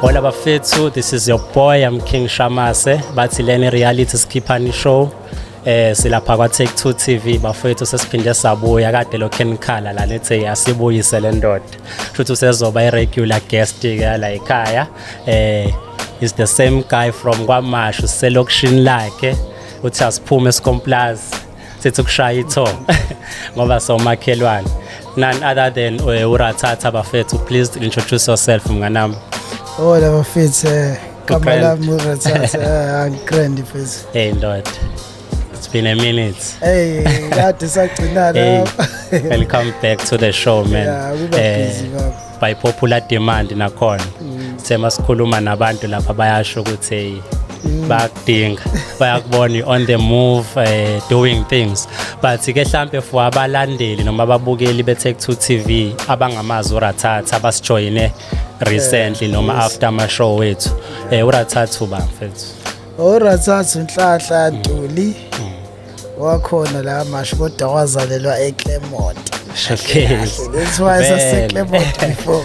Hola bafethu, this is your boy, I'm King Shamase. Bathi leni reality sikhiphani show. Eh silapha kwa Take 2 TV bafethu sesiphinde sabuya kade lo Ken Khala la lethe yasibuyise le ndoda. Futhi usezoba i regular guest ke la ekhaya. Eh is the same guy from kwaMashu selokishini lakhe. Uthi asiphume esikomplazi. sithi ukushaya itho ngoba somakhelwane none other than eh, urathatha bafethu please introduce yourself mnganami hola bafethu eh, gama lami urathatha eh, angikrend mfethu hey ndoda it's been a minute hey kade sagcinana welcome back to the show man yeah, by popular demand nakhona mm. sema sikhuluma nabantu lapha bayasho ukuthi mm. bayakudinga bayakubona on the move uh, doing things but ke hlampe for abalandeli noma ababukeli bethe ku TV abangamazi urathatha abasijoyine recently eh, noma after ama show wethu eh urathatha uba mfethu urathatha inhlahla yaduli mm. wakhona la mashi kodwa wazalelwa eClermont okay that's why saseClermont before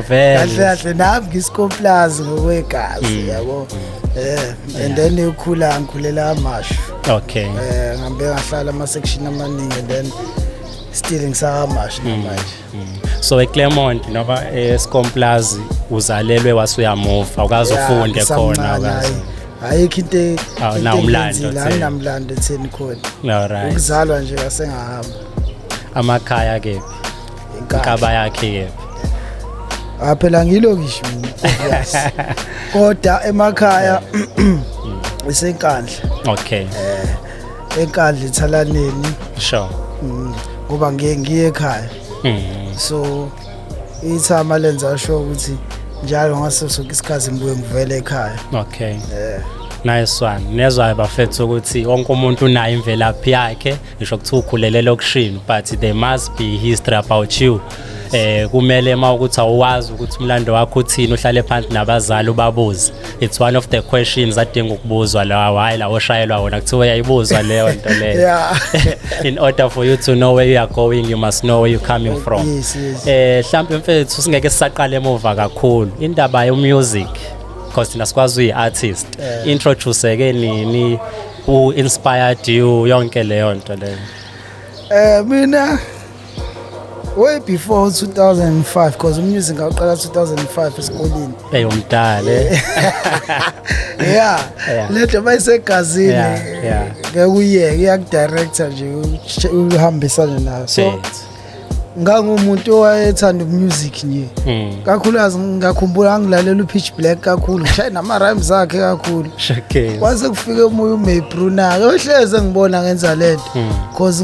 vele kahle kahle nami ngisikhoplazi ngokwegazi mm. yabo eh and then ukhula ngikhulela amashu okay eh ngihambe ngahlala ama section amaningi and then still ngisakamashu mm. manje so eclermont noma escomplazi uzalelwe wasuyamuva ukaze ufunde khona ukaze ayikho into awunamlando ah, awunamlando etheni khona ukuzalwa nje asengahamba amakhaya kephi inkaba yakhe kephi ah phela ngilo ngisho kodwa emakhaya isenkandla okay eh enkandla ethalaneni sure mm, ngoba ngiye ngiye ekhaya mm. so ithama lenza sho ukuthi njalo ngaso sonke isikhathi ngibuye ngivele ekhaya okay yeah nice one nezwayo bafethu ukuthi wonke umuntu unayo imvelaphi yakhe ngisho kuthiwa ukhulelele okushini but there must be history about you eh kumele uma ukuthi awazi ukuthi umlando wakho uthini uhlale phansi nabazali ubabuze it's one of the questions adinga ukubuzwa lawa hayi la oshayelwa wona kuthiwa yayibuzwa leyo nto leyo in order for you to know where you are going you must know where you coming from yes, yes. eh mhlawumbe mfethu singeke sisaqale emuva kakhulu indaba yo music because thina sikwazi uyi artist yeah. introduce ke nini who inspired you yonke leyo nto leyo eh mina way before 2005 because umusic ngawuqala 2005 esikoleni eyo mdala eh. yeah lento bayisegazini ngeke uyeke iyakudirector nje uhambisane nayo so ngangumuntu owayethanda umusic nje hmm. kakhulukazi ngakhumbula angilalela upitch black kakhulu ngishaye nama-rhymes akhe kakhulu kwase kufike umoya umaybrunak ohleze ngibona ngenza lento hmm. cause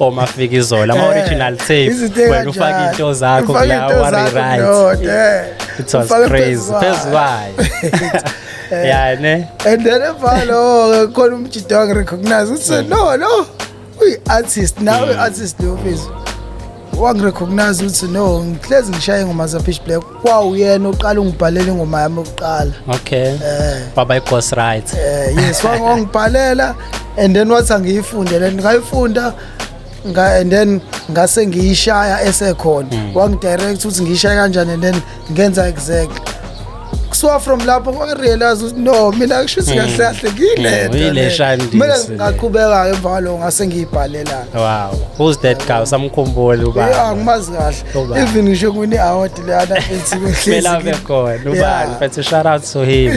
omafika izola ama original tape wena ufaka into zakho kula worry right it was crazy phezulu kwayo Eh. yeah ne and then evalo khona umjidi wangi recognize uthi mm. no no uyi artist nawe mm. artist lo mfethu wangi recognize uthi no ngihlezi ngishaye ngoma za pitch black kwawuyena oqala ungibhalela ingoma yami yokuqala okay eh baba ighost right eh yes wangibhalela and then wathi angiyifunde le ngayifunda nga and then ngase ngiyishaya esekhona mm. wangidirect ukuthi ngiyishaya kanjani and then ngenza exactly kusuka from lapho kwarealize ukuthi no mina kusho ukuthi hmm. kahle kahle ngiyileta hmm, mina ngaqhubeka-ke emva kwaloko ngase ngiyibhalelana wow who's that guy usamkhumbuli uba ya ngimazi kahle even ngisho kune award lana ethi kuhlezi ke khona ubani but shout out to him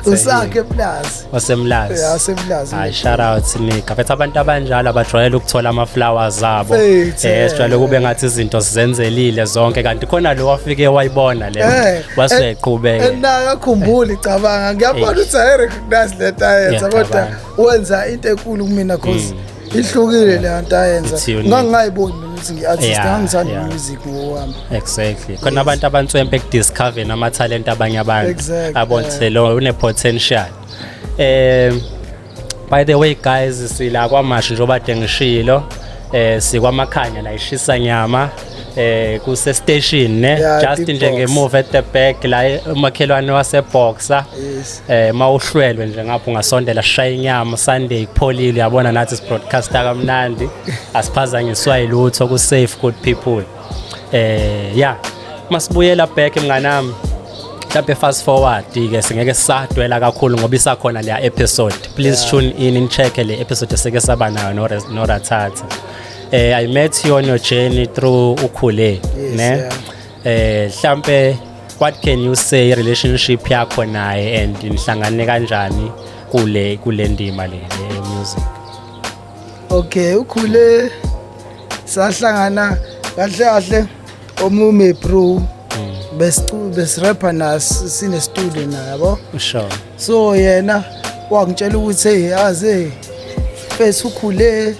usakhe plus wasemlazi yeah wasemlazi ay shout out nika but abantu abanjalo abajwayele ukuthola ama flowers abo eh sijwayele kube ngathi izinto sizenzelile zonke kanti khona lo wafike wayibona le eh, waseqhubeke eh, nayo akhumbuli cabanga ngiyabona eh. ukuthi i recognize leta yenza kodwa wenza into enkulu kumina cause mm. ihlukile le nto ayenza It's unique. ngangingayiboni mina ukuthi ngi-artist Yeah, angithandi yeah. music ngowami exactly khona abantu abantswempe ekudiscoveni amathalente abanye abantu Exactly. abonise lo une-potential um by the way guys sila kwamashi njengoba de ngishilo um sikwamakhanya la ishisa nyama eh kuse station ne yeah, just nje ngemuva at the back la umakhelwane wase boxer yes. eh mawuhlwelwe nje ngapho ngasondela shaya inyama sunday kupholile yabona nathi si broadcaster kamnandi asiphazanyiswa ilutho ku safe good people eh yeah masibuyela back mnganami mhlawumbe fast forward ke singeke sisadwela kakhulu ngoba isakhona leya episode please yeah. tune in in check le episode eseke saba nayo no no rathatha eh i met you on your journey through ukhule yes, ne yeah. eh mhlambe what can you say relationship yakho naye and nihlangane kanjani kule kule ndima le music okay ukhule sahlangana kahle kahle omume bro hmm. besirapha naso sinestudio naye yabo sure so yena wangitshela ukuthi hey aze face ukhule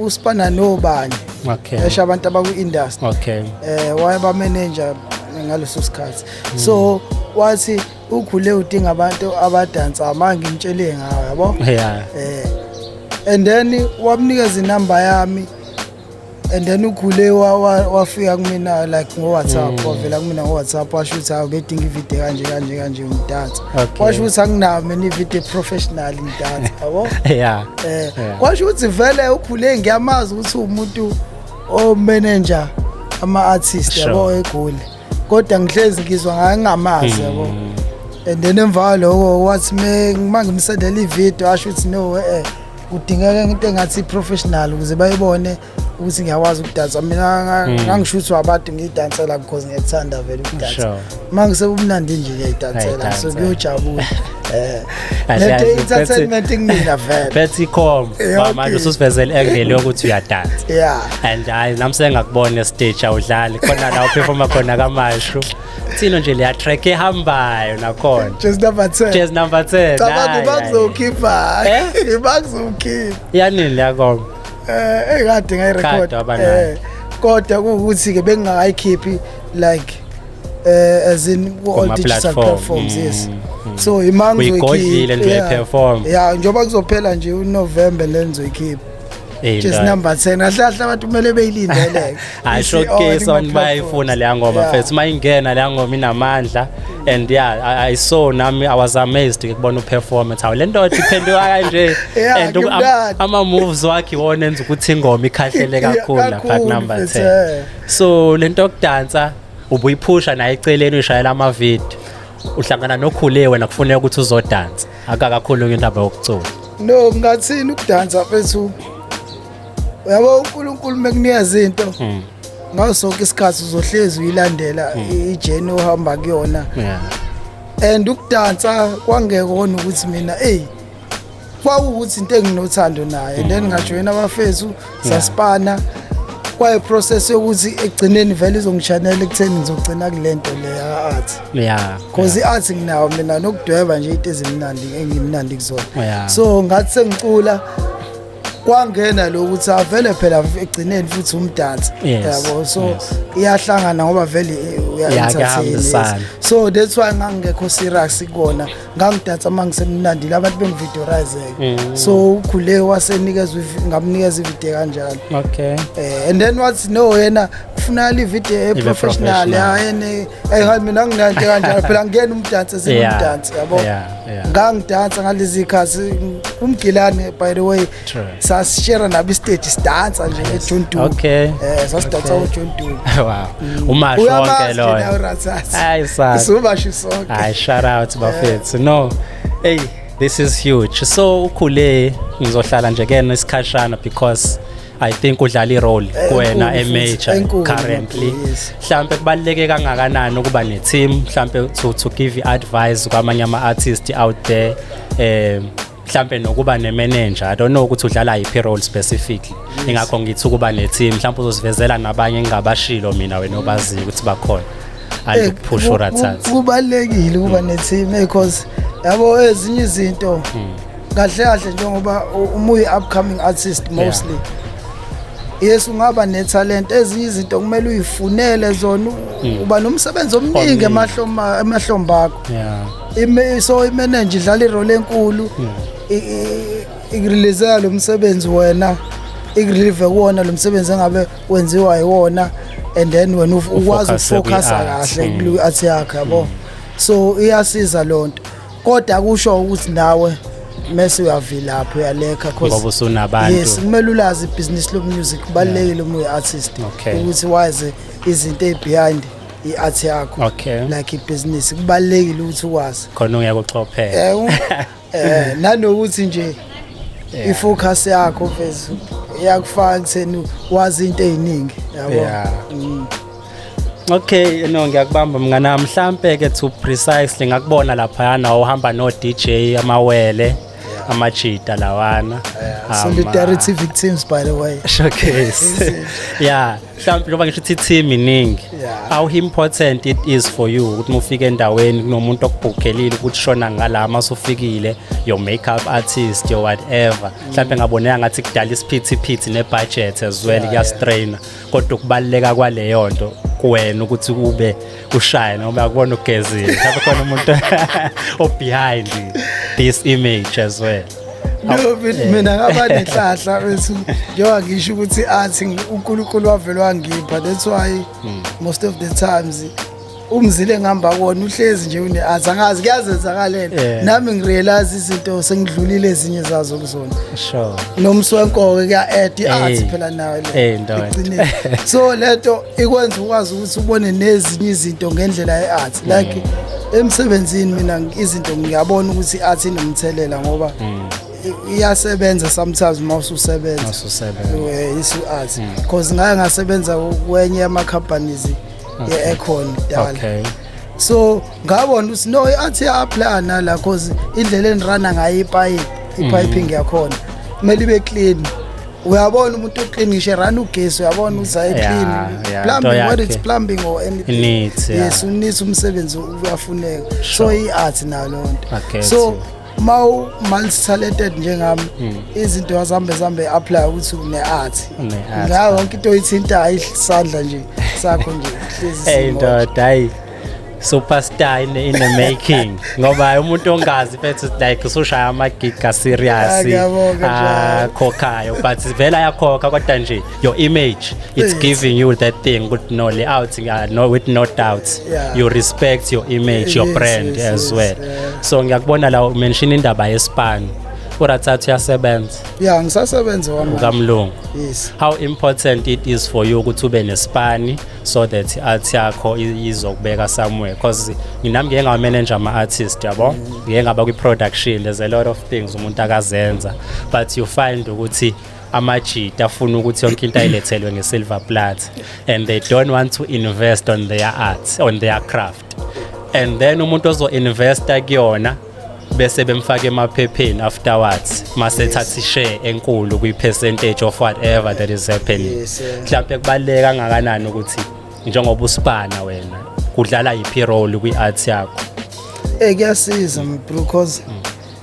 uSpana nobani okay esho abantu abaku industry okay eh wayeba manager ngaleso sikhathi so wathi ukhule udinga abantu abadansa manje ngimtshele ngawo yabo yeah eh and then wamnikeza inamba yami and then ukhule wafika kumina like ngowhatsapp mm. wavela kumina ngowhatsapp washo ukuthi awu ngedinga ivideo kanje kanje kanje umdansa washo ukuthi anginami nivideo professional data yabo yeah eh kwasho ukuthi vele ukhule ngiyamazi ukuthi umuntu o manager ama artist yabo egoli kodwa ngihlezi ngizwa ngaye ngingamazi yabo mm. and then emva kwaloko wathi me mangimsendela ivideo asho ukuthi no eh kudingeka into engathi professional ukuze bayibone ukuthi ngiyakwazi ukudansa mina hmm. ngangisho ukuthi wabantu ngiyidansela because ngiyakuthanda vele ukudansa uma ngisebumnandi nje ngiyayidansela so kuyojabula eh, lento entertainment kumina vele bethi com eh, manje ususivezele engele ukuthi uyadansa yeah and hayi nami sengakubona stage awudlali khona la uperforma khona kamashu thina nje leya track ehambayo nakhona just number 10 just number 10 cabanga ibakuzokhipha eh? ibakuzokhipha yanini la kom Eh hey kade ngayi record. Eh kodwa ukuthi ke bengingayikhiphi like eh as in all digital platforms mm. yes. Mm. So imangwe ki. Uyigodlile nje yeah. perform. Yeah njoba kuzophela nje uNovember lenzo ikhipha. Just number 10 ahlahla abantu kumele beyilindeleke. I showcase abantu bayifuna leya ngoma yeah. first mayingena leya ngoma inamandla and yeah I, I saw nami I was amazed ukubona uperformance how le ndoda iphenduka kanje and ama moves wakhe wona enza ukuthi ingoma ikhahlele kakhulu la part number 10 so lento yokudansa ubuyiphusha naye eceleni ushayela ama video uhlangana nokhule wena kufuneka ukuthi uzodansa akakakhulu into abayokucula no ngathini ukudansa mfethu uyabo unkulunkulu mekunikeza into hmm. ngaso sonke isikhathi uzohlezi uyilandela hmm. ijeni ohamba kuyona and ukudansa kwangekona ukuthi mina eyi kwawukuthi into enginothando naye then hmm. ngajoyina abafethu sasipana kwaye process yokuthi ekugcineni vele izongishanela ekutheni ngizogcina kule nto le ya-art yeah because i-art nginawo mina nokudweba nje into ezimnandi engimnandi kuzona so ngathi sengicula kwangena lo ukuthi avele phela egcineni futhi umdansi yabo so iyahlangana ngoba vele uya-entertain so that's why ngangingekho serious kona ngangidansa uma ngisemnandile abantu bengividorizeke mm. so ukhule wasenikezwa ngamnikeza ivide kanjalo okay eh, and then wathi no yena kufunakala ivide eprofessional yayene Hey hayi mina anginanto kanjalo phela ngiyena umdansi singumdansi yabo. Ngangidansa ngalezi ikhathi umgilane by the way sasishare nabo istage sidansa nje eJune 2. Okay. Eh sasidansa uJune 2. Wow. Mm. Umasho wonke loyo. Hayi sa. Sumasho sonke. Hayi shout out bafethu. No. Hey this is huge. So ukhule ngizohlala nje kena isikhashana because I think udlala irole eh, kuwena emajor currently mhlambe kubaleke kangakanani ukuba ne team mhlambe to to give advice kwamanye ama artists out there eh mhlambe nokuba ne manager i don't know ukuthi udlala yiphi role specifically ingakho ngithi ukuba ne team mhlambe uzosivezela nabanye engingabashilo mina wena obaziyo ukuthi bakhona andiphusha eh, urathatha kubalekile ukuba ne team because yabo ezinye izinto hmm. kahle kahle njengoba uma uyi-upcoming artist mostly yeah. yes ungaba nethalente ezinye izinto kumele uyifunele zona mm. uba nomsebenzi omningi emahlomba akho so imenenje idlala irole enkulu ikurelizela lo msebenzi wena ikurelive kuwona lo msebenzi engabe wenziwa yiwona and then wena ukwazi ukufocusa kahle kwi-art yakho yabo mm. so iyasiza loo nto kodwa kusho ukuthi nawe mese uyavilapha uyalekha ngoba usunabantu yes kumele ulazi ibhizinisi lomusic kubalulekile uma uyi-artist ukuthi wazi izinto ezibehind i-art yakho okay. like ibhizinisi kubalulekile ukuthi ukwazi khona uyakuxophela um eh, eh, nanokuthi nje yeah. ifocus yakho vezi iyakufaka kutheni wazi into eziningi yabo yeah. mm. Okay no ngiyakubamba mngana mhlampe ke to precisely ngakubona lapha yana uhamba no DJ amawele amajita lawana solidarity victims by the way showcase yeah mhlawumbe njengoba ngisho ukuthi team iningi how important it is for you ukuthi mufike endaweni kunomuntu okubhukhelile ukuthi shona ngala masufikile your makeup artist your whatever mhlawumbe ngaboneka ngathi kudala isiphithiphithi nebudget as well kuyastrainer kodwa ukubaluleka kwaleyo nto kuwena ukuthi ube ushaye noma akubona ugezile mhlawumbe khona umuntu obehind this image as well no but eh. mina ngaba nenhlahla bethu njengoba ngisho ukuthi athi unkulunkulu wavele wangipha that's why hmm. most of the times umzile engihamba kona uhlezi nje une athi angazi kuyazenzakalela Yeah. nami ngirealize izinto sengidlulile ezinye zazo kuzona sure nomsi wenkoke kuya-ed i-art Ey. phela nayo le. Ey, ndoda. Ekugcineni. so lento ikwenza ukwazi ukuthi ubone nezinye izinto ngendlela ye-art like emsebenzini mina ngi- izinto ngiyabona ukuthi i-art inomthelela ngoba i- iyasebenza sometimes uma ususebenza ususebenza Eh, isu-art because ngaye ngasebenza kwenye yama-companies ye-aircon kudala okay so ngabona ukuthi no athi apply nala cause indlela enirana ngayo ipipe ipiping mm. yakhona kumele ibe clean uyabona umuntu uclean ngisho run ugesi uyabona ukuthi ayi clean plumbing what it's plumbing or anything yes unisa umsebenzi uyafuneka so i art nalo nto so uma u-multitalented njengami hmm. izinto yazambe zambe apply ukuthi une-art ngayo yonke into oyithintayo isandla nje sakho nje hlezi ndoda hayi superstar in, in the making ngoba umuntu ongazi mfethu like usushaya amagiga serious akhokhayo ah, ah, but vele ayakhokha kodwa nje your image it's giving you that thing with no layout uh, no with no doubts yeah. you respect your image your yes, brand yes, as yes, well yeah. so ngiyakubona la umention indaba yespan urathathu uyasebenza yeah ngisasebenza wami kamlungu yes how important it is for you ukuthi ube nesipani so that art yakho izokubeka somewhere because nginami ngeke ngawa manager ama artist yabo mm. ngeke ngaba kwi production there's a lot of things umuntu akazenza but you find ukuthi amajita afuna ukuthi yonke into ayilethelwe ngesilver plat and they don't want to invest on their art on their craft and then umuntu ozo-investa kuyona bese bemfaka emaphepheni afterwards masethatha ishare enkulu kwi-percentage of whatever that is happening mhlawumpe kubaluleke kangakanani ukuthi njengoba usibana wena kudlala yiphi role kwi-art yakho um kuyasiza because mm.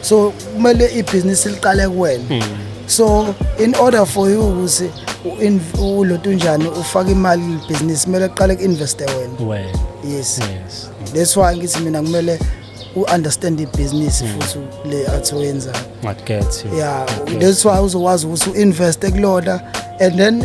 so kumele ibhizinisi liqale kuwena hmm. so in order for you ukuthi uloto unjani ufake imali libhizinisi kumele kuqale ku-investe wena yes that's why ngithi mina kumele u-understand ibhizinisi hmm. futhi le athi oyenzayo ya that's why uzokwazi ukuthi u-investe kulona and then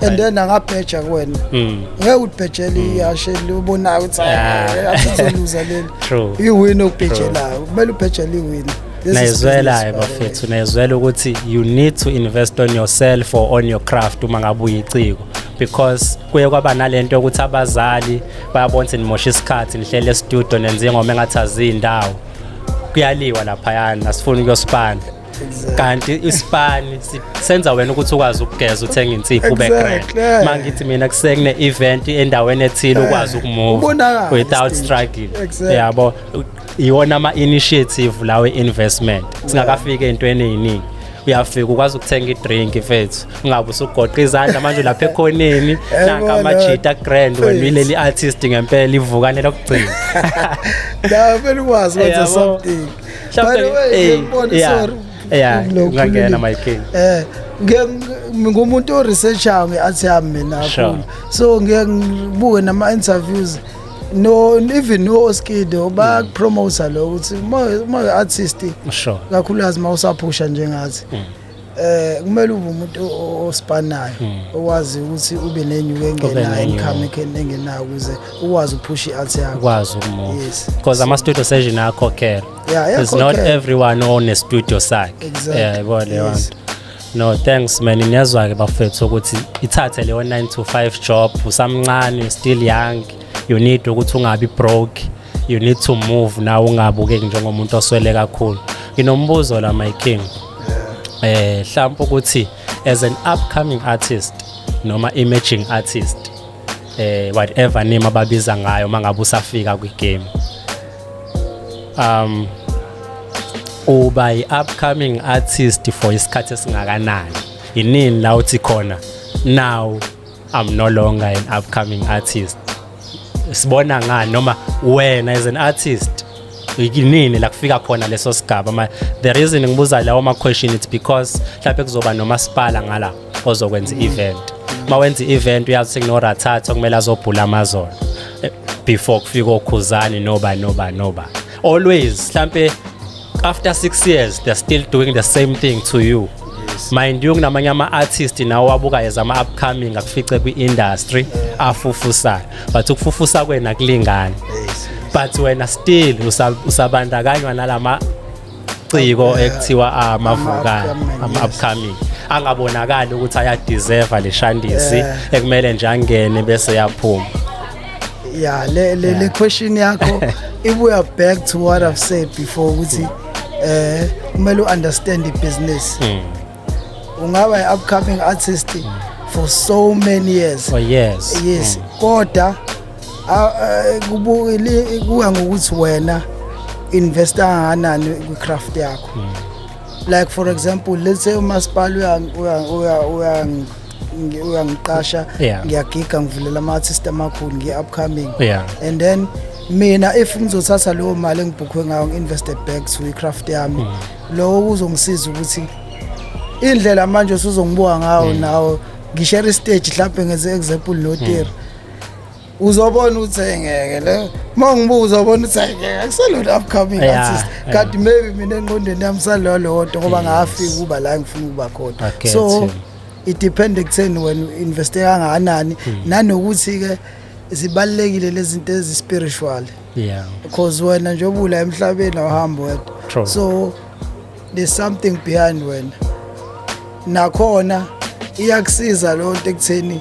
and then angabheja kuwena hmm. ngeke udibhejele hmm. ihashe libonayo ukuthi ah. asizoluza leli iwini okubhejelayo kumele ubhejele iwini nayizwelayo bafethu nayizwela ukuthi you need to invest on yourself or on your craft uma ngabe uyiciko because kuye kwaba nalento yokuthi abazali bayabona ukuthi nimosha isikhathi nihlele estudio nenze ingoma engathi azindawo kuyaliwa laphayana asifuni ukuyosipanda kanti isipani si- senza wena ukuthi ukwazi ukugeza uthenge insipho ube grand Exactly. Eh. mangithi mina kusekune event endaweni ethile ukwazi ukumove Ubonakala without stage. struggling Exactly. yabo iwona ama initiative lawe investment singakafika entweni eziningi uyafika ukwazi ukuthenga idrink mfethu ungabe usugoqa izandla manje lapha ekhoneni naka Yabona. amajita grand wena Mfethu. ileli artist ngempela ivukane lokugcina la vele ukwazi wenza Yabo. something By the way, eh, ngiyakubona, yeah. sorry. Yeah, Lo ungangena, khulile. my king. Eh, ngiye ng- ngumuntu oresearchayo nge-art yami mina Sure. kakhulu. So ngiye ngibuke nama-interviews no even no-oskido Mm. bakupromota lo ukuthi uma- uma artist Sure. kakhulukazi uma usaphusha njengathi Mm. Eh kumele ube umuntu osipanayo hmm. owazi ukuthi ube nenyuke engenayo income engenayo ukuze ukwazi uphusha i-alt yakho. Ukwazi ukumove. Yes. Because ama studio session akhokhela. Yeah, yeah. It's not everyone on a studio sakhe. Exactly. Yeah, yabo le wanto. No thanks man niyazwa ke bafethu ukuthi ithathe leyo 9 to 5 job usamncane still young you need ukuthi ungabi broke you need to move nawe ungabukeki njengomuntu oswele kakhulu nginombuzo la my king eh mhlawumbe ukuthi as an upcoming artist noma emerging artist eh whatever name ababiza ngayo mangabe usafika kwi game um uba yi upcoming artist for isikhathi esingakanani yinini la uthi khona now i'm no longer an upcoming artist sibona ngani noma wena as an artist yinini la kufika khona leso sigaba ma the reason ngibuza lawo ma question it's because mhlawumbe kuzoba nomasipala ngala ozokwenza i-event uma wenza i-event uyazi ukuthi kunorathatha okumele azobhula amazolo eh, before kufika okhuzani noba noba noba always mhlawumbe after 6 years they're still doing the same thing to you mind you kunamanye ama-artist nawo wabukayo zama-upcoming akufice kwi-industry afufusayo but ukufufusa kwena kulingani but wena still usabandakanywa nalama ciko ekuthiwa amavukane ama-upcoming angabonakali ukuthi ayadeserve le shandisi ekumele nje angene bese yaphuma yeah le le, yeah. le question yakho ibuya back to what i've said before ukuthi eh kumele uunderstand ibusiness mm. ungaba i-upcoming artist mm. for so many years for years yes mm. kodwa kubukile kuya ngokuthi wena investa kanganani kwi-craft yakho mm. like for example let's say umasipala uya uya uya uyangiqasha yeah. ngiyagiga ngivulela ama-artist amakhulu ngiye-upcoming yeah. and then mina if ngizothatha leyo mali engibhukhwe ngayo ngi-invested back to i-craft yami mm. lowo kuzongisiza ukuthi indlela manje usuzongibuka ngawo mm. nawo ngishare istage mhlawumbe ngenze example notiri mm. uzobona ukuthi engeke le uma ngibuza ubona ukuthi engeke akuselona upcoming artist kanti maybe mina engqondweni yami salolodwa ngoba ngafika ukuba la ngifuna ukuba khona so it depend ekutheni wena investe kangakanani hmm. nanokuthi ke zibalekile lezinto ezispiritual yeah because wena nje obula emhlabeni awuhambi wedwa so there's something behind wena nakhona iyakusiza lo nto ekutheni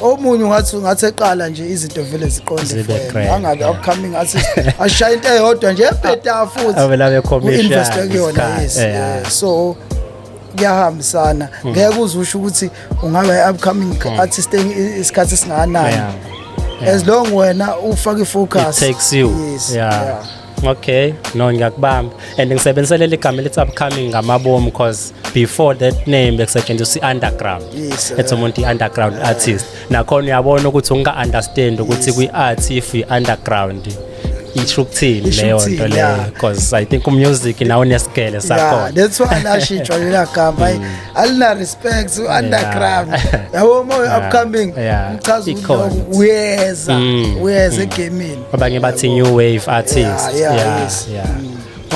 omunye ungathi ungathi eqala nje izinto vele ziqonde angabe upcoming athi ashaya into eyodwa nje ebheda futhi avela be commercial invest kuyona yes so kuyahambisana hmm. ngeke uze usho ukuthi ungaba i-upcoming hmm. artist isikhathi esingakanani as long wena ufake i-focus takes you yes. yeah. yeah. okay no ngiyakubamba and ngisebenzisele ligama elithi upcoming ngamabomu because before that name bekusetshenziswa i-underground yes, ethi umuntu i-underground artist nakhona uyabona ukuthi unga-understand ukuthi kwi-art if i-underground yeah. isho ukuthini leyo nto leyo because i think umusic nawo unesigele sakhona that's why lashitshwa lela gama mm. alina respect underground yabo uma upcoming mchaza ukuthi uyeza mm. uyeza mm. egamini abanye bathi new wave artist yeah yeah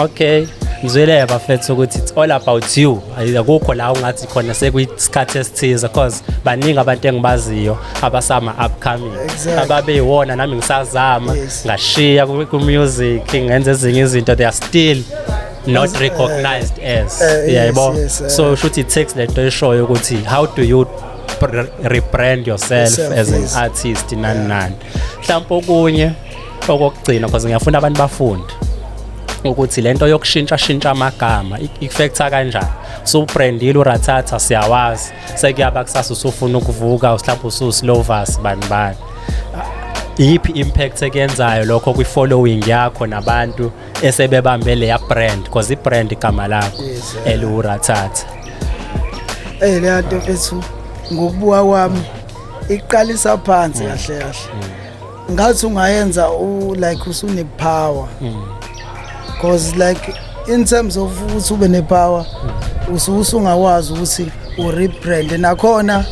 Okay. ngizwile bafethu ukuthi it's all about you akukho la ungathi khona sekuyisikhathi esithize cause baningi abantu engibaziyo abasama upcoming exactly. ababeyiwona nami ngisazama yes. ngashiya ku-music ngenza ezinye izinto they are still not as, recognized uh, as uh, yebo yes, yes, uh, so eh. shuthi text lento eshoyo ukuthi how do you rebrand yourself, yourself as yes. an artist nani nani mhlawumbe okunye okokugcina because ngiyafuna abantu bafunde ukuthi lento yokushintsha shintsha amagama ikufektha kanjani so ubrandile urathatha siyawazi sekuyaba kusasa usufuna ukuvuka uhlapha ususlovas bani bani iyiphi impact ekuyenzayo lokho kwi following yakho nabantu esebebambe leya brand because i brand igama lakho eliurathatha eh leya nto mfethu ngokubuka kwami iqalisa phansi kahle kahle mm. ngathi ungayenza u like usune power mm. because like in terms of ukuthi ube ne power mm. ususungawazi ukuthi u rebrand nakhona mm.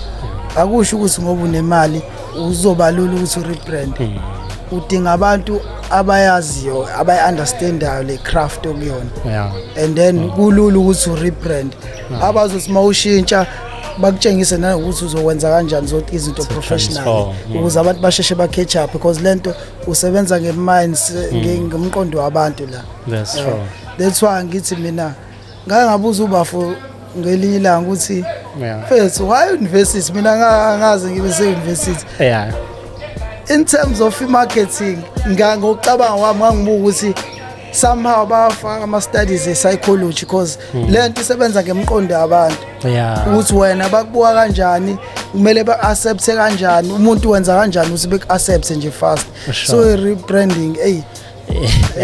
akusho ukuthi ngoba unemali uzobalula ukuthi u rebrand udinga abantu abayaziyo abayi understandayo le craft okuyona and then kulula ukuthi u rebrand abazothi uma ushintsha bakutshengise nanokuthi uzokwenza kanjani zonke izinto professional ukuze abantu basheshe ba-catch up because le nto usebenza nge-mind mm. ngomqondo wabantu la that's why ngithi mina ngake ngabuza ubafo ngelinye ilanga ukuthi mfethu why university mina angazi ngibe se-university in terms of i-marketing ngokucabanga kwami ngangibuka ukuthi somehow bafaka ama studies e psychology because hmm. lento isebenza ngemqondo yabantu yeah ukuthi wena bakubuka kanjani kumele ba accept kanjani umuntu wenza kanjani ukuthi be accept nje fast so rebranding hey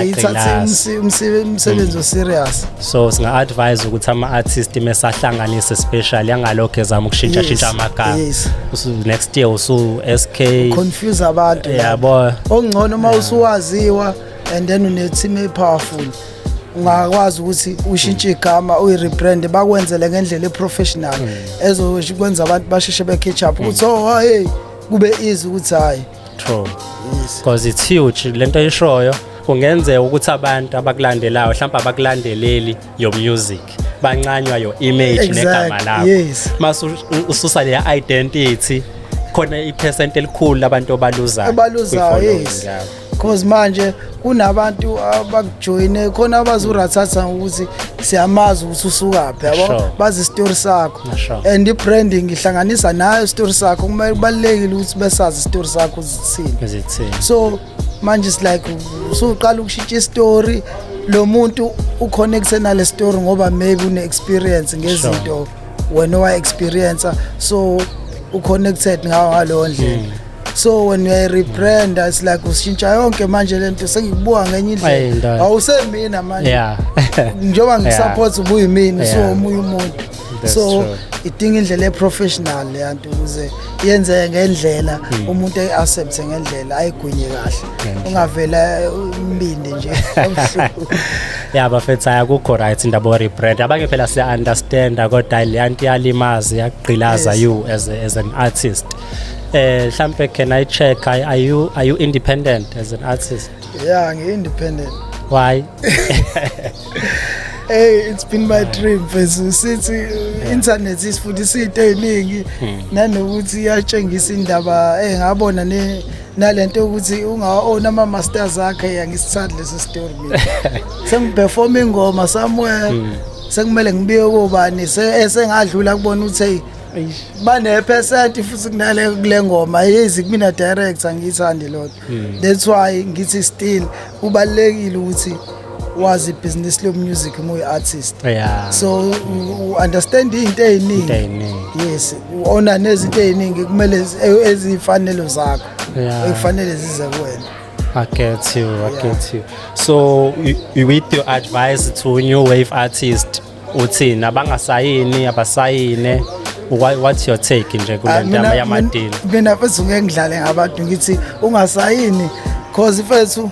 ithathe umsebenzi hmm. oserious so singa-advise ukuthi ama-artist mesahlanganise especially angalokhu ezama ukushintshashintsha amagama next year usu-sk confuse abantu yabo okungcono uma usuwaziwa and then une team e powerful ungakwazi ukuthi ushintshe igama uyirebrand bakwenzele ngendlela eprofessional hmm. ezokwenza abantu basheshe becatch up hmm. ukuthi oh hey kube easy ukuthi hayi true because it's huge lento ayishoyo kungenzeka ukuthi abantu abakulandelayo mhlawumbe abakulandeleli your music bancanywa your image exactly. negama lakho yes. mase ususa le identity khona iphesenti elikhulu labantu obaluzayo obaluzayo yes. cause manje kunabantu abakujoyine khona abazi urathatha ukuthi siyamazi ukuthi usukaphi yabo bazi isitori sakho and i-branding ihlanganisa nayo isitori sakho kumele kubalulekile ukuthi besazi isitori sakho zithini so manje is like usuqala ukushintsha isitori lo muntu uconnecte nale story ngoba maybe une-experience ngezinto wena owa-experiencer so uconnected ngawo ngaleyo ndlela mm. so when you are rebrand it's like ushintsha yonke manje lento sengikubuka ngenye indlela awusemina manje yeah njengoba ngikusupport ubuyimini so omunye umuntu so idinga indlela eprofessional leyanto ukuze yenzeke ngendlela hmm. umuntu ayiaccept ngendlela ayigwinye kahle ungavela eh, umbindi nje ya bafethu akukho right indaba o rebrand abanye phela siya understand kodwa leyanto yalimazi yagqilaza you as as an artist eh mhlambe can i check are, are you are you independent as an artist yeah ngi independent why hey it's been my dream mfethu sithi internet isifundisa into eziningi hmm. nanokuthi iyatshengisa indaba eh ngabona ne nalento yokuthi ungaona ama masters akhe yangisithandi lesi story mina sengiperform ingoma somewhere hmm. sekumele ngibiye kobani sengadlula kubona ukuthi banephesenti futhi kunale kule ngoma yezi kumina director ngiyithandi lodwa hmm. that's why ngithi still kubalekile ukuthi wazi business lo music mu artist yeah. so u understand into eziningi yes uona nezinto eziningi kumele e-, ezifanelo zakho yeah. ekufanele zize kuwena I get you, I yeah. get you. So, with your advice to new wave artist, uthini abangasayini abasayine what's your take nje kule ah, ndaba yamadini mina mfethu ngeke ngidlale ngabantu ngithi ungasayini cause mfethu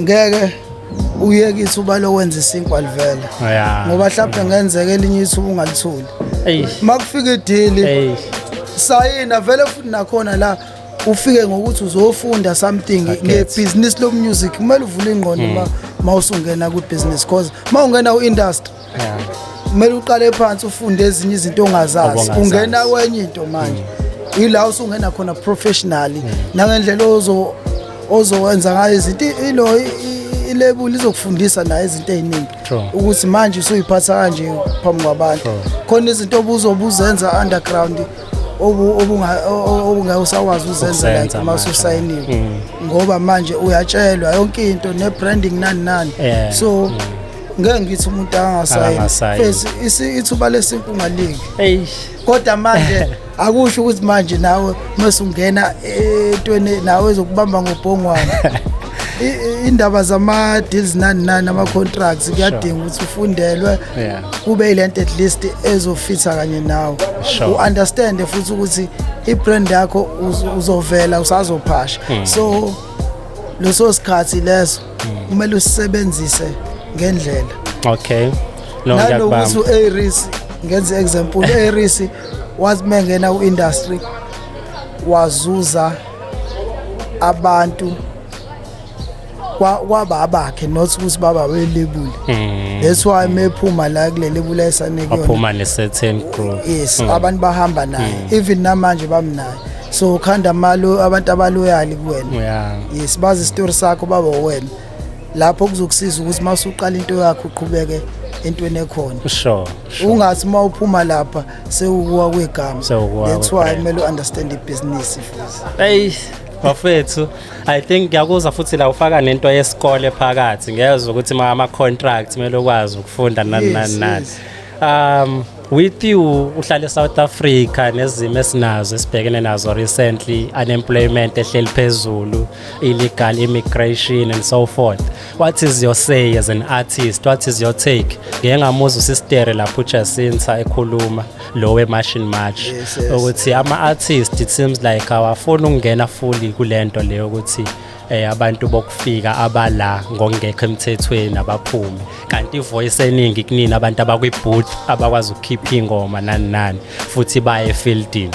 ngeke uyeke ithuba lokwenza isinkwa livele oh, ngoba mhlawumbe ngenzeka elinye ithuba ungalitholi uma kufika idili sayina vele futhi nakhona la ufike ngokuthi uzofunda something ngebhizinisi lomusic kumele uvule ingqondo hmm. ma usungena kwibhizinisi because ma ungena u-industry kumele uqale phansi ufunde ezinye izinto ongazazi ungena kwenye into manje hmm. ila usungena khona professionally hmm. nangendlela ozowenza ngayo izinto ilo ilebuli izokufundisa naye izinto eziningi ukuthi manje usuyiphatha kanje phambi kwabantu khona izinto obuzobuzenza underground obungeke usakwazi uzenza like uma ususayiniwe mm. ngoba manje uyatshelwa yonke into ne-branding nani nani so mm. ngeke ngithi umuntu angasayini fesi ithuba lesintu ungaliki kodwa manje akusho ukuthi manje nawe uma sungena entweni nawe ezokubamba ngobhongwane indaba zama deals nani nani ama contracts kuyadinga ukuthi ufundelwe kube ilento at least ezofitha kanye nawe u understand futhi ukuthi i brand yakho uzovela usazophasha hmm. so leso sikhathi leso hmm. kumele usebenzise ngendlela okay no ngiyakubamba nalokuthi uAris ngenze example uAris wathi mengena uindustry wazuza abantu kwaba abakhe not ukuthi baba belebule mm. that's why mephuma la kule lebula esane kuyona aphuma ne certain group yes mm. abantu bahamba naye mm. even namanje bamnaye so khanda malo abantu abaloyali kuwena yeah. yes bazi story sakho baba wena lapho kuzokusiza ukuthi masuqala into yakho uqhubeke entweni ekhona sure, sure. ungathi uma uphuma lapha sewukuwa kwegama Sewukuwa that's why kwebrand. kumele u-understand ibhizinisi futhi eyi bafethu i think ngiyakuzwa futhi la ufaka nento yesikole phakathi ngiyezwa ukuthi ma ama-contract kumele ukwazi ukufunda nani nani Yes, nani yes. um with you uhlale south africa nezimo esinazo esibhekene nazo recently unemployment ehleli phezulu illegal immigration and so forth What is your say as an artist? What is your take? Ngeke ngamuzwa uSistere lapho uJacinta ekhuluma lo weMachine March yes, yes. ukuthi ama artist it seems like awafuni ukungena fully kulento leyo ukuthi eh abantu bokufika abala ngongekho emthethweni abaphume kanti ivoice eningi kunini abantu abakwi booth abakwazi ukukhipha ingoma nani nani futhi baye fieldini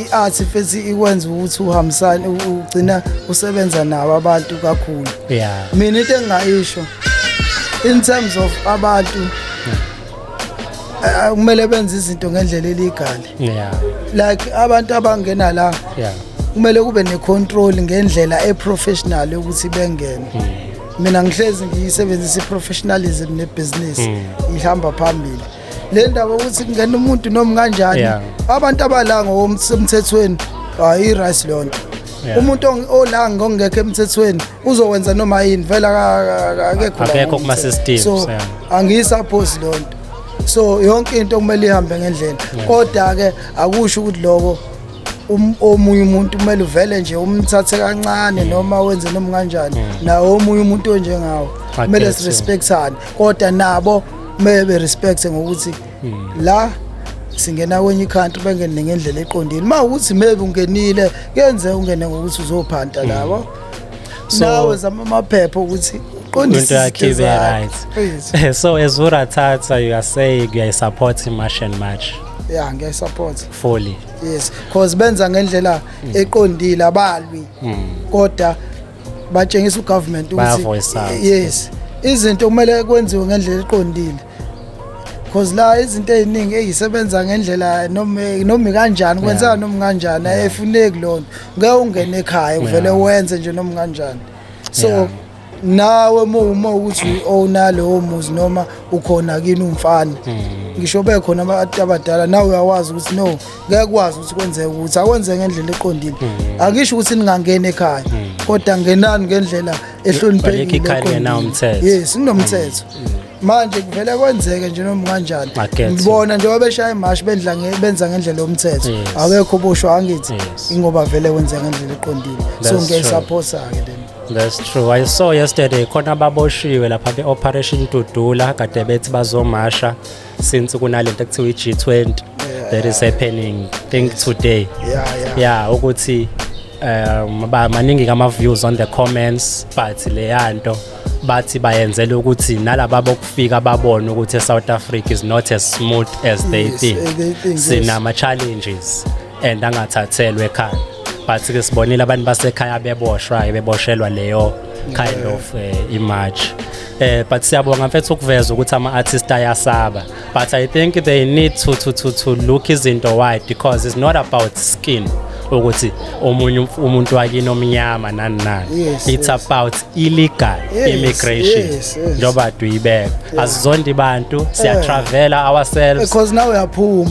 i-art futhi ikwenza ukuthi uhambisane ugcina usebenza nabo abantu kakhulu yeah mina into engingayisho in terms of abantu eh, kumele benze izinto ngendlela eligale yeah like abantu abangena la yeah kumele kube necontrol ngendlela eprofessional ukuthi bengene hmm. mina ngihlezi ngiyisebenzisa iprofessionalism nebusiness hmm. ihamba phambili le ndaba ukuthi kungena umuntu noma kanjani Yeah. abantu abala ngokomthethweni hayi rice leyo nto Yeah. umuntu ong- olanga ngokungekho emthethweni uzowenza noma yini vele aka- aka- akekho la Akekho kuma ngokomthetho. systems, so yeah. angiyisaphosi leyo nto so yonke into kumele ihambe ngendlela kodwa-ke akusho ukuthi loko um- omunye umuntu kumele uvele nje umthathe kancane noma wenze noma kanjani nawo omunye umuntu onjengawo I kumele guess so. sirespectane kodwa nabo Kumele be respect ngokuthi la singena kwenye country bengene ngendlela eqondile. Uma ukuthi maybe ungenile kenze ungene ngokuthi uzophanta labo. So- Nawe zama amaphepha ukuthi into uqondise yakhe izinto ibe zakho. right Please. so as urathatha you are saying uyayisupport i-march and march Yeah, ngiyayisupport. fully Yes, cause benza ngendlela eqondile abalwi. Kodwa batshengisa ugovernment ukuthi yes izinto kumele kwenziwe ngendlela eqondile because la izinto eziningi ezisebenza ngendlela noma noma kanjani kwenzeka noma kanjani ayifuneki lona ngeke ungene ekhaya uvele wenze nje noma kanjani so nawe uma ukuthi owna lowo muzi noma ukhona kini umfana hmm. ngisho bekhona abantu abadala nawe uyawazi ukuthi no ngeke kwazi ukuthi kwenzeke ukuthi akwenze ngendlela eqondile hmm. angisho ukuthi ningangena ekhaya hmm. kodwa ngenani ngendlela ehloniphekile yes kunomthetho hmm. manje kuvele kwenzeke nje noma kanjani ngibona nje wabeshaya imashi bendla benza ngendlela yomthetho awekho oboshwa angithi ingoba vele kwenzeka ngendlela eqondile so ngiyayisaphosa ke lena That's true. I saw yesterday khona baboshiwe lapha be Operation Dudula kade bethi bazomasha since kunalento kuthiwa i-G20 that is happening think today yeah, yeah. ukuthi um ba maningi kama views on the comments but leyanto bathi bayenzela ukuthi nalaba bokufika babone ukuthi eSouth Africa is not as smooth as they yes, think eh, sinama challenges and angathathelwe ekhaya but ke sibonile abantu basekhaya beboshwa beboshelwa leyo kind of uh, image eh but siyabonga mfethu ukuveza ukuthi ama artist ayasaba but i think they need to to to, to look izinto wide because it's not about skin ukuthi omunye umuntu wakini omnyama nani nani yes, it's yes. about illegal yes, immigration yes, yes. njengoba duyibeka yeah. asizonda ibantu siyatravela yeah. ourselves because now uyaphuma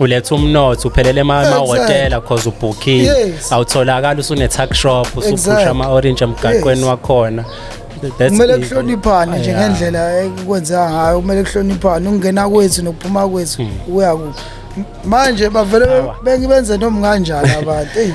uletha umnotho uphelele emahhotela cause ubhukhile awutholakali usune-tuck shop usuphusha ama-orange emgaqweni wakhona kumele kuhloniphane nje ngendlela ekwenzeka ngayo kumele kuhloniphane ukungena kwethu nokuphuma kwethu hmm. kuya kuphi manje bavele bengibenze noma kanjani abantu eyi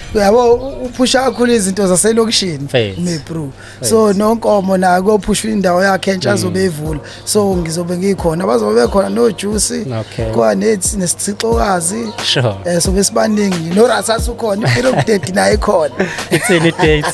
uyabo uphusha kakhulu izinto zaselokishini mebru so nonkomo naye kophusha indawo yakhe entsha mm. azobe evula so ngizobe ngikhona bazobe bekhona nojuice kwa nethi nesithixokazi sure eh sobe sibaningi norasathi ukhona impilo kudedi naye khona ithini idate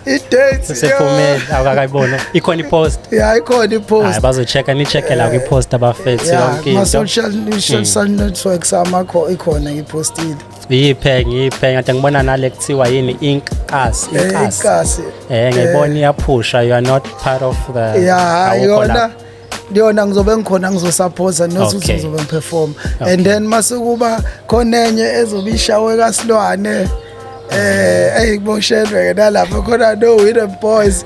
idate sephumile awukakayibona ikhona ipost yeah ikhona ipost hayi bazochecka nichecke la kwipost abafethu yonke into social mm. social networks amakho ikhona ngipostile Yiphe ngiphe ngathi ngibona nale kuthiwa yini inkasi Eh, inkasi. inkasi. Eh ngiyibona iyaphusha you are not part of the ya awukho yona lapho. yona ngizobe ngikhona ngizosaphosa nosuthi Okay. ngizobe ngiperform Okay. and then masekuba khona enye ezobe ishawe kasilwane eh eyiboshelwe ke nalapho khona no winner boys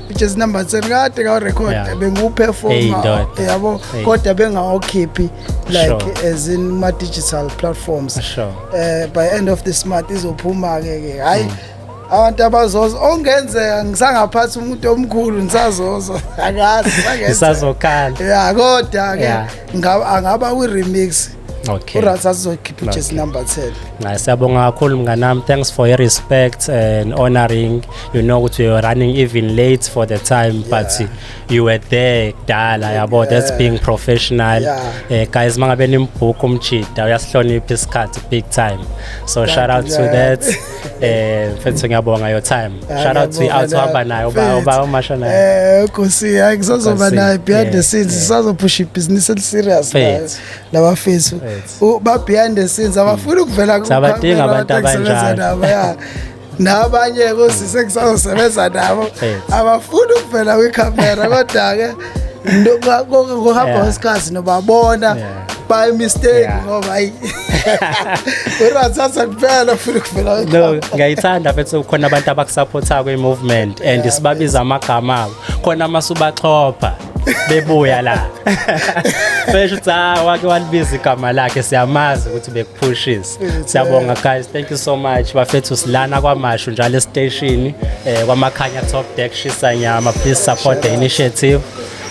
which is number 10 kade ka record yeah. benguperformer hey, yabo hey. kodwa bengawakhiphi like sure. as in ma digital platforms sure. uh, by end of this month izophuma ke ke hayi mm. abantu abazoza ongenzeka ngisangaphathi umuntu omkhulu ngisazoza akazi isazokhala ya kodwa ke angaba kwi remix okay uRaz azokhipha ujezi number 10 hayi siyabonga kakhulu mnganami thanks for your respect and honoring you know ukuthi you're running even late for the time yeah. but you were there kudala yabo yeah. that's being professional yeah. eh, guys mangabe nimbhuku umjida uyasihlonipha isikhathi big time so Thank shout out to that eh mfethu ngiyabonga your time shout out to out hamba naye uba uba umasha naye eh kusi hayi ngisazoba naye behind the scenes sisazophusha ibhizinisi eliserious laba fesu ba behind the scenes abafuni ukuvela ku sabadinga abantu abanjalo ya nabanye kusise kusazosebenza nabo abafuni ukuvela kwi camera kodwa ke ngokuhamba kwesikhathi nobabona by mistake ngoba ayi urathatha kuphela ufuna ukuvela no ngiyayithanda mfethu khona abantu abakusupportayo kwi-movement and sibabiza amagama abo khona masubaxhopha bebuya la besho ukuthi ha wake walibiza igama lakhe siyamazi ukuthi bekuphushisa siyabonga guys thank you so much bafethu silana kwamashu njalo estation eh kwamakhanya top deck shisa nyama please support the initiative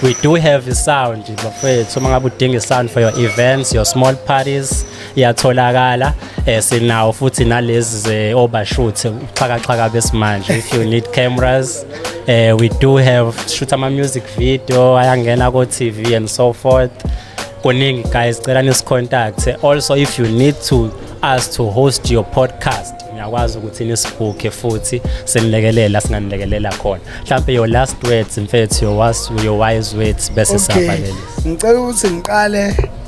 we do have a sound bafethu uma ngabe udinga sound for your events your small parties iyatholakala eh sinawo futhi nalezi ze overshoot uxhakaxhaka besimanje if you need cameras eh we do have shoot ama music video ayangena ko TV and so forth kuningi guys cela nisicontact also if you need to us to host your podcast ngiyakwazi ukuthi nisibhukhe futhi senilekelela singanilekelela khona mhlawumbe your last words mfethu your wise words bese siyabalelisa ngicela ukuthi ngiqale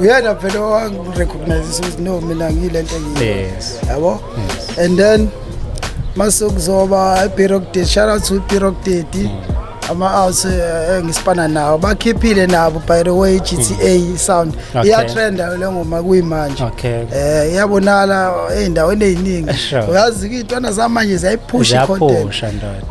uyena phela owangirecognize ukuthi no mina ngiyile nto engiyiyo yabo and then mase kuzoba ibirok date shout out to ibirok date mm. ama-outs eh, engisipana nawo bakhiphile nabo by the way gta mm. sound iyatrenda le ngoma kuyimanje um iyabonala ey'ndaweni ey'ningi uyazi-ke iy'ntwana zamanje ziyayiphusha icontent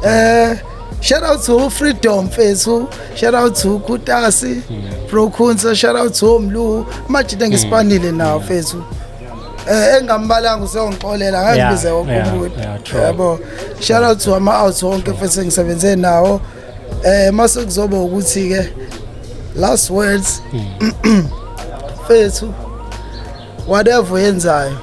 um Shout out to Freedom Fesu, shout out to Kutasi, mm. Pro Kunsa, shout out to Mlu, majita ngispanile hmm. nawo Fesu. Eh engambalanga usongixolela ngangibize wonke umuntu. Yabo. Shout out to ama out wonke Fesu ngisebenze nawo. Eh mase kuzoba ukuthi ke last words. Hmm. Fesu. whatever oyenzayo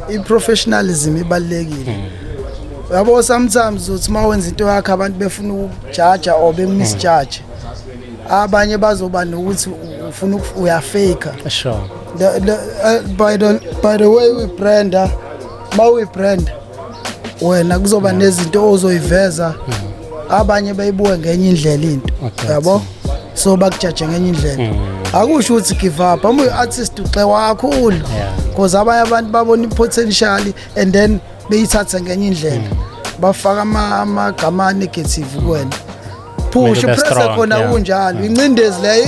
i-professionalism ibalulekile hmm. yabo sometimes uthi uma wenza into yakho abantu befuna ukujaja or bemisjaje hmm. abanye bazoba nokuthi ufuna uyafaker sure the, the, uh, by, the, by the way we branda uma uyibranda wena kuzoba nezinto ozoyiveza abanye bayibuke ngenye indlela into yabo so bakujaje ngenye indlela mm. akusho ukuthi give up hamba uyi-artist uxe wakhulu because abanye abantu babona i-potential and then beyithathe ngenye indlela mm. bafaka amagama negative kuwena phusha uprese khona kunjalo incindezi leyo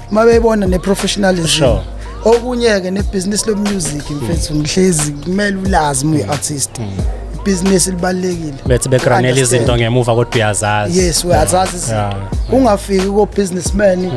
uma beyibona ne-professionalism Sure. okunye-ke nebhizinisi lomusic mfethu ngihlezi kumele ulazi uma uyi-artist ibhizinisi libalulekile bethi begranela Understand. izinto ngemuva kodwa uyazazi yes uyazazi izinto Yeah. ungafiki ko-businessman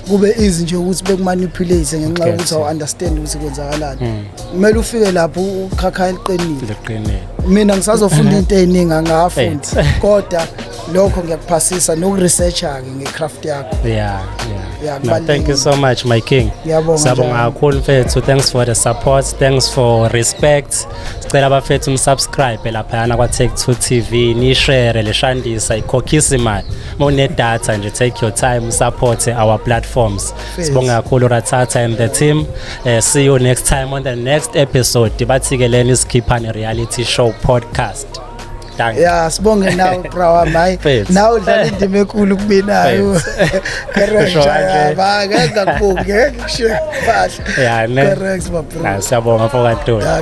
kube easy nje ukuthi bekumanipulate ngenxa Okay, yokuthi so- awu-understand ukuthi kwenzakalani kumele ufike lapho ukhakha eliqinile liqinile mina ngisazofunda into ey'ningi angafundi Eight. kodwa lokho ngiyakuphasisa nokuresearcha-ke ngecraft yakho yeah, yeah. yeah no, thank you so much my king siyabonga kakhulu mfethu thanks for the support thanks for respect sicela abafethu umsubscribe laphayana kwa-take two tv nishere leshandisa ikhokhisa imali uma unedatha nje take your time usupporte our platforms sibonge kakhulu rathatha and the team uh, see you next time on the next episode bathi-ke leni isikhiphane reality show podcast Dankie. ya sibonge nawe bra wami hayi Fethu. nawe udlala indima enkulu kuminayo Usho correct kanje. ya ba ngeke ngakubonge ngeke ngishiye kahle Ya, ne. correct my bro Ah, Siyabonga mfowethu. Ya,